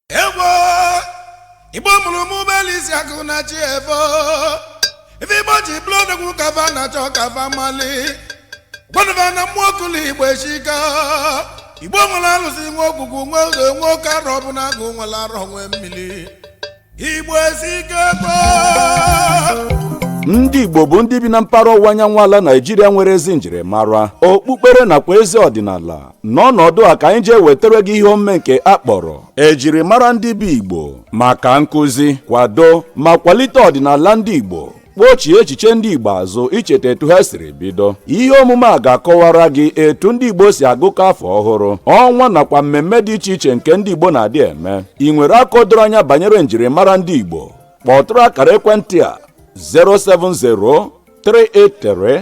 egbo igbo mụrụ m ụgbọelu isi akụ na chi efo ife igbo ji bụlụ odogwu ka fa na-achọ ka fa malị gwanụ fa na mmụọ kụlụ igbo eshika igbo nwere alụsị nwe ogwugwu nwe udo nwe oke arọbụnagụ nwere arọ nwe mmiri igbo esike gboo ndị igbo bụ ndị bi na mpaghara ọwụwa anyanwụ ala naijiria nwere ezi njirimara okpukpere nakwa ezi ọdịnala n'ọnọdụ a ka anyị ji ewetara gị ihe omume nke a kpọrọ ejirimara ndị bụ igbo maka nkụzi kwado ma kwalite ọdịnala ndị igbo kpọchie echiche ndị igbo azụ icheta etu ha siri bido ihe omume a ga-akọwara gị etu ndị igbo si agụkọ afọ ọhụrụ ọnwa nakwa mmemme dị iche iche nke ndị igbo na-adị eme ị nwere aka doro anya banyere njirimara ndị igbo kpọtụrụ akara ekwentị a 070 383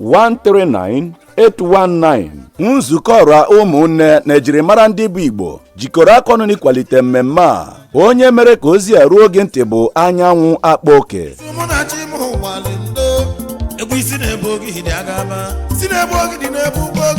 139-819 nzukọ ọra ụmụnne na ejirimara ndị bụ Igbo jikọrọ aka ọnụ n'ịkwalite mmemme a onye mere ka ozi a ruo gị ntị bụ anyanwụ akpa oke